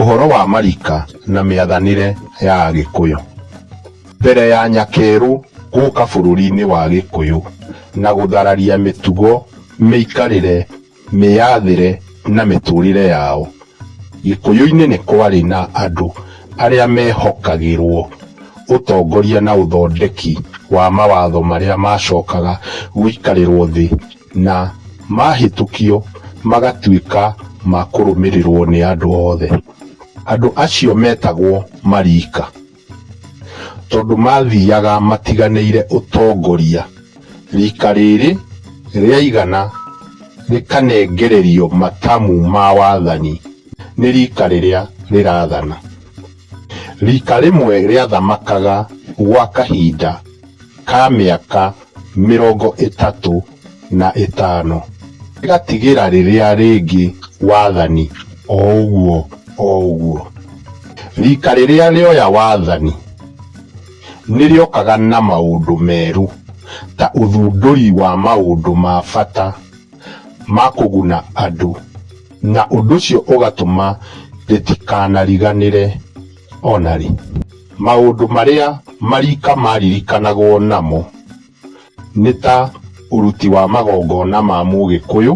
Ũhoro wa marika na mĩathanĩre ya Agĩkũyũ. Mbere ya Nyakerũ gũka bũrũri-inĩ wa Gĩkũyũ na gũthararia mĩtugo, mĩikarĩre, mĩyathĩre na mĩtũrĩre yao, Gĩkũyũ-inĩ nĩ kwarĩ na andũ arĩa mehokagĩrwo ũtongoria na ũthondeki wa mawatho marĩa macokaga gũikarĩrwo thĩ na mahĩtũkio magatuĩka ma kũrũmĩrĩrũo nĩ andũ othe. Andũ acio metagwo Mariika, tondũ maathiaga matiganĩire ũtongoria. Riika rĩrĩ rĩaigana rĩkanengererio matamu ma wathani nĩ riika rĩrĩa rĩrathana. Riika rĩmwe rĩathamakaga gwa kahinda ka mĩaka mĩrongo ĩtatũ na ĩtano, rĩgatigĩra rĩrĩa rĩngĩ wathani o ũguo o ũguo. Riika rĩrĩa rĩoya wathani nĩ rĩokaga na maũndũ merũ ta ũthundũri wa maũndũ ma bata. ma kũguna andũ, na ũndũ ũcio ũgatũma rĩtikanariganĩre o na rĩ. Maũndũ marĩa mariika maaririkanagwo namo nĩ ta ũruti wa magongona ma Mũgĩkũyũ,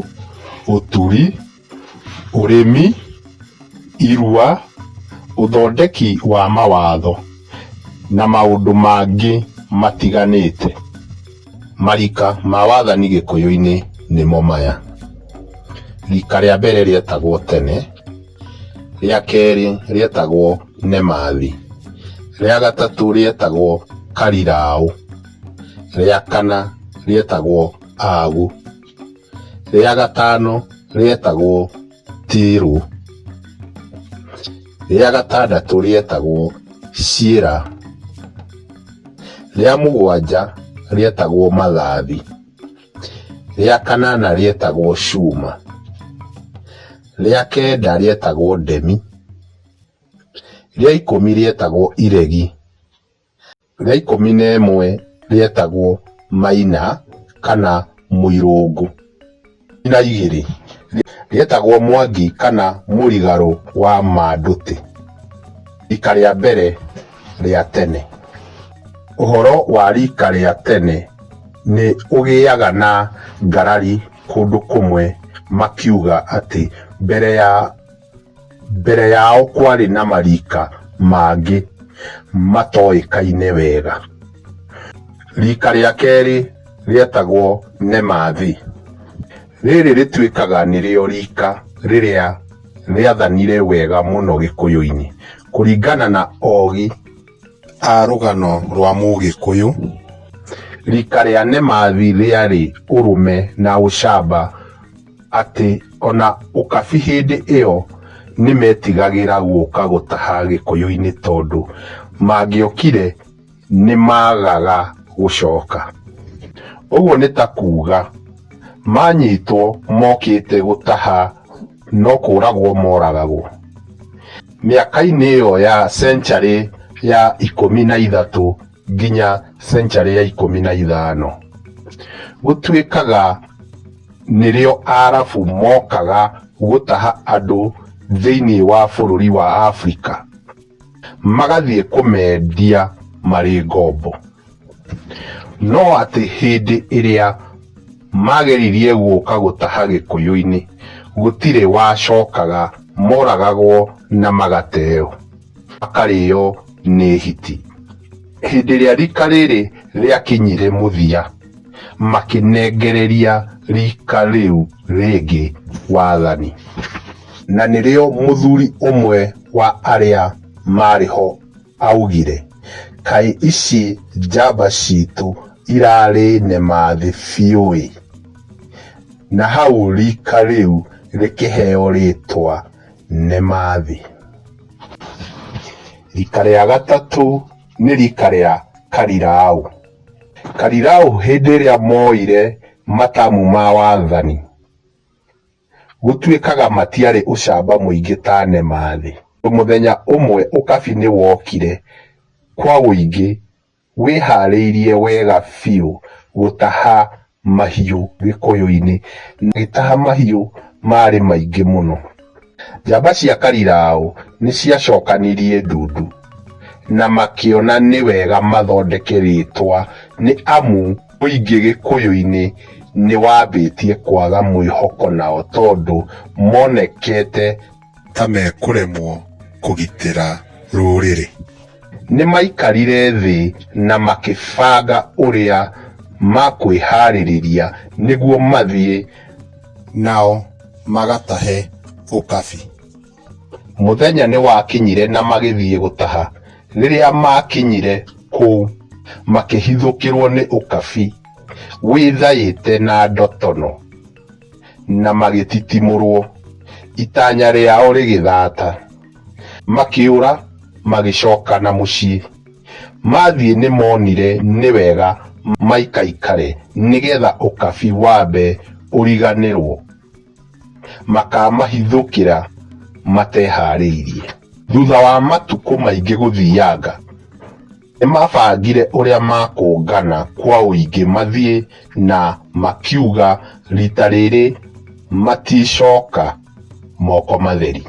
ũturi, ũrĩmi, irua, ũthondeki wa mawatho, na maũndũ mangĩ matiganĩte. Marika ma wathani gĩkũyũ-inĩ nĩmo maya, rika rĩa mbere rĩetagwo tene, rĩa kerĩ rĩetagwo nemathi, rĩa gatatũ rĩetagwo kariraũ, rĩa kana rĩetagwo agu, rĩa gatano rĩetagwo. Tirũ. Rĩa gatandatũ rĩetagwo Ciĩra. Rĩa mũgwanja rĩetagwo Mathathi. Rĩa kanana rĩetagwo Cuma. Rĩa kenda rĩetagwo Ndemi. Rĩa ikũmi rĩetagwo Iregi. rĩa ikũmi na ĩmwe rĩetagwo Maina kana Mũirũngũ. Na igĩrĩ rĩetagwo Mwangi kana Mũrigarũ wa Mandũtĩ. Rika rĩa mbere rĩa tene. Ũhoro wa rika rĩa tene nĩ ũgĩaga na ngarari kũndũ kũmwe makiuga atĩ mbere ya... Mbere yao kwarĩ na marika mangĩ matoĩkaine wega. Rika rĩa kerĩ rĩetagwo Nemathi. Rĩrĩ rĩtuĩkaga nĩrĩo rika rĩrĩa rĩathanire wega mũno Gĩkũyũ-inĩ. Kũringana na ogi a rũgano rwa Mũgĩkũyũ, rika rĩa Nemathi rĩarĩ ũrũme na ũcamba. atĩ o na ũkabi hĩndĩ ĩyo nĩ metigagĩra gũka gũtaha Gĩkũyũ-inĩ tondũ mangĩokire nĩ maagaga gũcoka. Ũguo nĩ ta kuuga manyitwo mokĩte gũtaha no kũũragwo moragagwo. Mĩaka-inĩ ĩyo ya cencarĩ ya ikũmi na ithatũ, nginya century ya ikũmi na ithano gũtuĩkaga nĩrĩo arabu mokaga gũtaha andũ thĩinĩ wa bũrũri wa Africa magathiĩ kũmendia marĩ ngombo. No atĩ hĩndĩ ĩrĩa mageririe gũka gũtaha gĩkũyũ-inĩ gũtirĩ wacokaga moragagwo na magateo. akarĩo nĩ hiti. Hĩndĩ ĩrĩa rika rĩrĩ rĩakinyire mũthia, makĩnengereria rika rĩu rĩngĩ wathani. Na nĩrĩo mũthuri ũmwe wa arĩa maarĩ ho aaugire, Kaĩ ici njamba citũ irarĩ nemathĩ biũ-ĩ! Na hau rika rĩu rĩkĩheo rĩĩtwa nĩ ma thĩ. Rika rĩa gatatũ nĩ rika rĩa Kariraũ. Kariraũ hĩndĩ ĩrĩa moire matamu ma wathani, gũtuĩkaga matiarĩ ũcamba mũingĩ ta nĩ ma thĩ. Mũthenya ũmwe ũkabi nĩ wokire kwa ũingĩ. Wĩharĩirie wega biũ gũtaha mahiũ gĩkũyũ-inĩ. Agĩtaha mahiũ maarĩ maingĩ mũno. Njamba cia Kariraũ nĩ ciacokanirie ndundu na makĩona nĩ wega mathondeke rĩĩtwa nĩ amu mũingĩ gĩkũyũ-inĩ nĩ wambĩtie kwaga mwĩhoko nao tondũ monekete ta mekũremwo kũgitĩra rũrĩrĩ. Nĩmaikarire thĩ na makĩbanga ũrĩa makwĩharĩrĩria nĩguo mathiĩ. Nao magatahe ũkabi. Mũthenya nĩwakinyire na magĩthiĩ gũtaha. Rĩrĩa maakinyire kũu makĩhithũkĩrwo nĩ ũkabi wĩthaĩte na ndotono. na magĩtitimũrwo, itanya rĩao rĩgĩthata, makĩũra magĩcoka na mũciĩ. Mathiĩ nĩ monire nĩ wega maikaikare nĩ getha ũkabi wambe ũriganĩrwo, makamahithũkĩra mateharĩirie. Thutha wa matukũ maingĩ gũthianga. Nĩmabangire ũrĩa makũngana kwa ũingĩ mathiĩ na makiuga rita rĩrĩ maticoka moko matheri.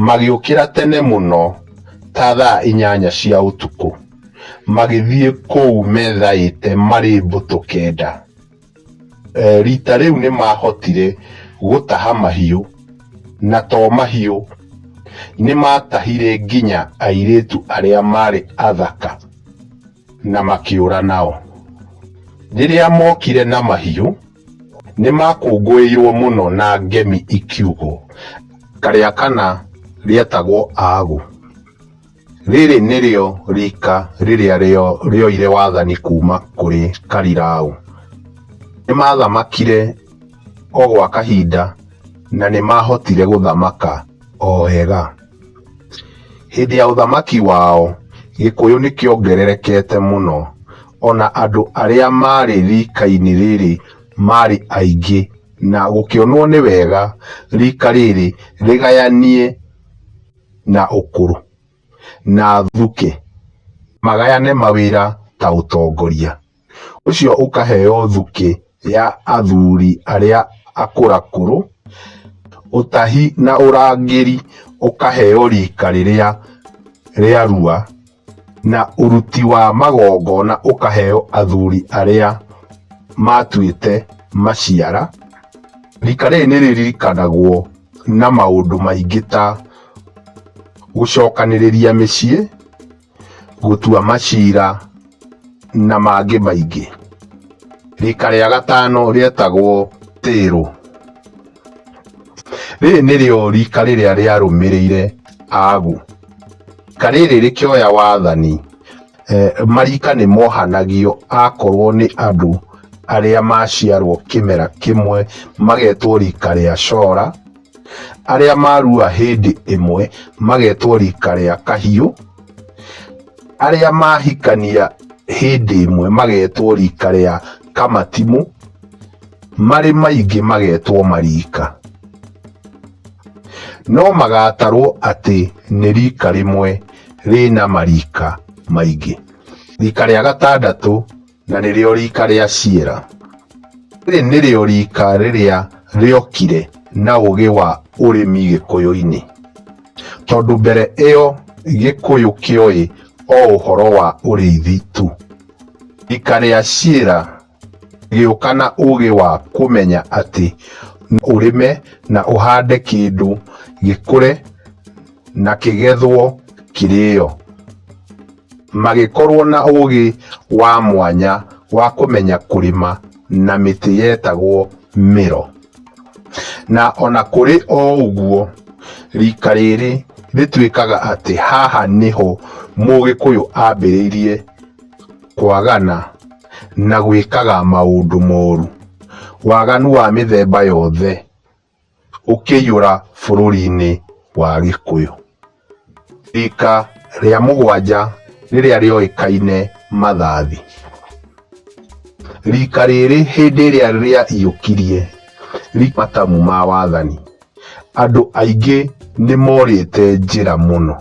Magĩũkĩra tene mũno ta thaa inyanya cia ũtukũ magĩthiĩ kũu methaĩte marĩ mbũtũ kenda. Eh, rita rĩu nĩ maahotire gũtaha mahiũ na to mahiũ nĩ maatahire nginya airĩtu arĩa maarĩ athaka na makĩũra nao. Rĩrĩa mookire na mahiũ, nĩ maakũngũĩirũo mũno na ngemi ikiugwo, Karĩa kana rĩetagwo Agu. Rĩrĩ nĩrĩo riika rĩrĩa rĩoire wathani kuuma kũrĩ Karirau. Nĩ maathamakire o gwa kahinda na nĩ maahotire gũthamaka o wega. Hĩndĩ ya ũthamaki wao, Gĩkũyũ nĩ kĩongererekete mũno, o na andũ arĩa maarĩ riika-inĩ rĩrĩ maarĩ aingĩ, na gũkĩonwo nĩ wega riika rĩrĩ rĩgayanie. na ũkũrũ na thuke magayane mawĩra ta ũtongoria. Ũcio ũkaheo thuke ya athuri arĩa akũrakũrũ, ũtahi na ũrangĩri ũkaheo rika rĩrĩa rĩarua. Na ũruti wa magongona ũkaheo athuri arĩa maatuĩte maciara. Rika rĩrĩ nĩ rĩririkanagwo na maũndũ maingĩ ta gũcokanĩrĩria mĩciĩ, gũtua macira na mangĩ maingĩ. Rika rĩa gatano rĩetagwo tĩrũ. Rĩrĩ nĩrĩo rika rĩrĩa rĩarũmĩrĩire agu. Karĩrĩ rĩkĩoya wathani, marika nĩ mohanagio akorwo nĩ andũ arĩa maciarwo kĩmera kĩmwe magetwo rika rĩa cora, arĩa marua hĩndĩ ĩmwe magetwo rika rĩa kahiũ, arĩa mahikania hĩndĩ ĩmwe magetwo rika rĩa... kamatimũ marĩ maingĩ magetwo marika no magatarwo atĩ nĩ rika rĩmwe rĩna marika maingĩ rika rĩa gatandatũ na nĩrĩo rika rĩa ciera rĩrĩ nĩrĩo rika rĩrĩa rĩokire na ũgĩ wa ũrĩmi gĩkũyũ-inĩ tondũ mbere ĩyo gĩkũyũ kĩoĩ o ũhoro wa ũrĩithi tu Rika rĩa ciĩra gĩũka na ũgĩ wa kũmenya atĩ no ũrĩme na ũhande kĩndũ gĩkũre na kĩgethwo kĩrĩo. Magĩkorwo na ũgĩ wa mwanya wa kũmenya kũrĩma na mĩtĩ yetagwo mĩro. Na o na kũrĩ o ũguo, rika rĩrĩ rĩtuĩkaga atĩ haha nĩho Mũgĩkũyũ ambĩrĩirie kwagana, na gwĩkaga maũndũ moru, waganu wa mĩthemba yothe ũkĩiyũra bũrũri-inĩ wa Gĩkũyũ. Rika rĩa mũgwanja rĩrĩa rĩoĩkaine Mathathi. Rika rĩrĩ hĩndĩ ĩrĩa rĩaiyũkirie matamu ma wathani, andũ aingĩ nĩ morĩte njĩra mũno.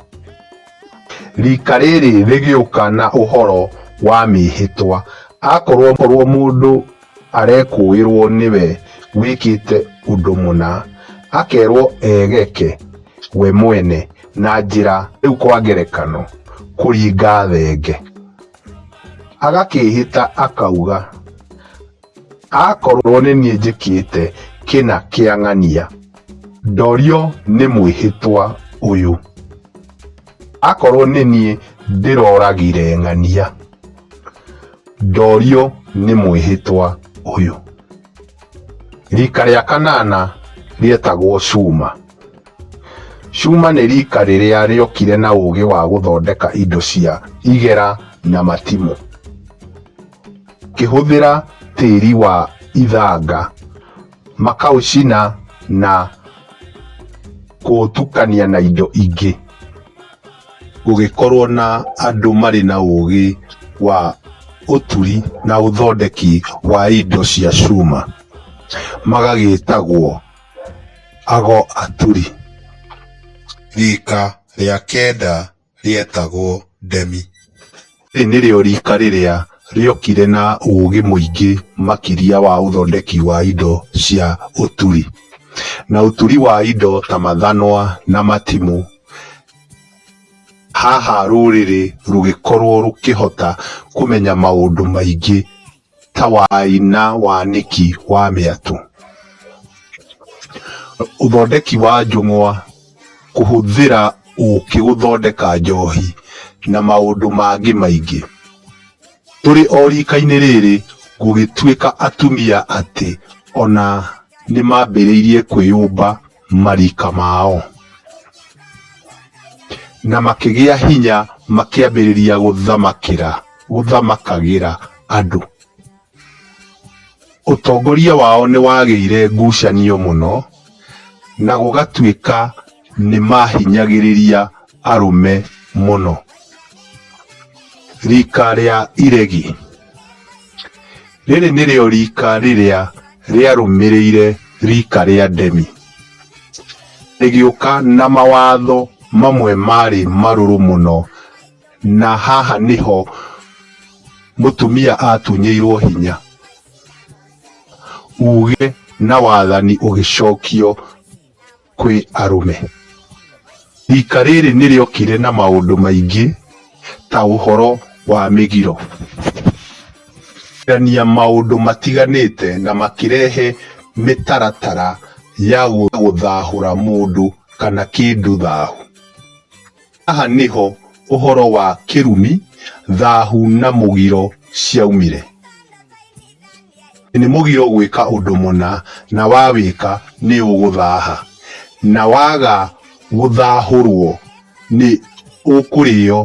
Rika rĩrĩ rĩgĩũka na ũhoro wa mĩĩhĩtwa. Akorwo korwo mũndũ arekũĩrwo nĩwe wĩkĩte ũndũ mũna, akerwo egeke we mwene na njĩra rĩu kwa ngerekano kũringa thenge. Agakĩĩhĩta akauga. Akorwo nĩ niĩ njĩkĩte kĩna kĩa ng'ania, ndorio nĩ mwĩhĩtwa ũyũ. Akorwo nĩ niĩ ndĩroragire ng'ania, ndorio nĩ mwĩhĩtwa ũyũ. Rika rĩa kanana rĩetagwo Cuma. Cuma nĩ rika rĩrĩa rĩokire na ũgĩ wa gũthondeka indo cia igera na matimũ. ngĩhũthĩra tĩri wa ithanga, makaũcina na kũũtukania na indo ingĩ. Gũgĩkorwo na andũ marĩ na ũgĩ wa ũturi na ũthondeki wa indo cia cuma, magagĩtagwo ago aturi. Rika rĩa kenda rĩetagwo Demi. Rĩrĩ nĩrĩo riika rĩrĩa rĩokire na ũũgĩ mũingĩ makĩria wa ũthondeki wa indo cia ũturi na ũturi wa indo ta mathanwa na matimũ. Haha rũrĩrĩ rũgĩkorũo rũkĩhota kũmenya maũndũ maingĩ ta wai na wanĩki wa mĩatũ. Ũthondeki wa njũng'wa, kũhũthĩra ũkĩ gũthondeka njohi na maũndũ mangĩ maingĩ. Tũrĩ o rika-inĩ rĩrĩ gũgĩtuĩka atumia atĩ ona nĩmambĩrĩirie kwĩyũmba. marika mao. Na makĩgĩa hinya makĩambĩrĩria gũthamakĩra gũthamakagĩra andũ. Ũtongoria wao nĩ wagĩire ngucanio mũno na gũgatuĩka nĩ maahinyagĩrĩria. arũme mũno. Rika rĩa iregi. Rĩrĩ nĩrĩo rika rĩrĩa rĩarũmĩrĩire rika rĩa ndemi. Rĩgĩũka na mawatho mamwe marĩ marũrũ mũno na haha nĩho mũtumia atunyĩirwo hinya. Uge na wathani ũgĩcokio. kwĩ arũme. Riika rĩrĩ nĩ rĩokire na maũndũ maingĩ ta ũhoro wa mĩgiro, gũcenjania maũndũ matiganĩte na makĩrehe mĩtaratara ya gũthahũra mũndũ kana kĩndũ thahu. Haha nĩho ũhoro wa kĩrumi, thahu na mũgiro ciaumire. Nĩ mũgiro gwĩka ũndũ mũna na wawĩka nĩ ũgũthaha. Na waga gũthahũrwo nĩ ũkũrĩo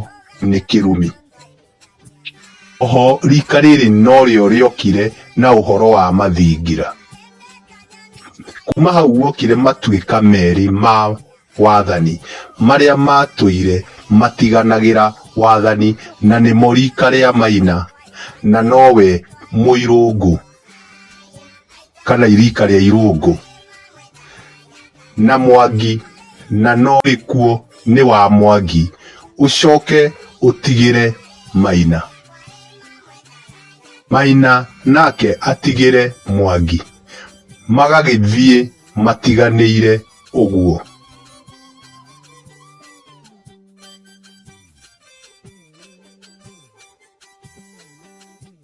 nĩ kĩrumi. Oho rika rĩrĩ norĩo rĩokire na ũhoro wa mathingira. Kuma hau guokire matuĩka merĩ ma wathani marĩa matũire matiganagĩra wathani na nĩmo rika rĩa Maina na nowe Mũirũngũ. kana irika rĩa irũngũ na mwangi na no gĩkuo nĩ wa mwangi ũcoke ũtigĩre maina maina nake atigĩre mwangi magagĩthiĩ matiganĩire ũguo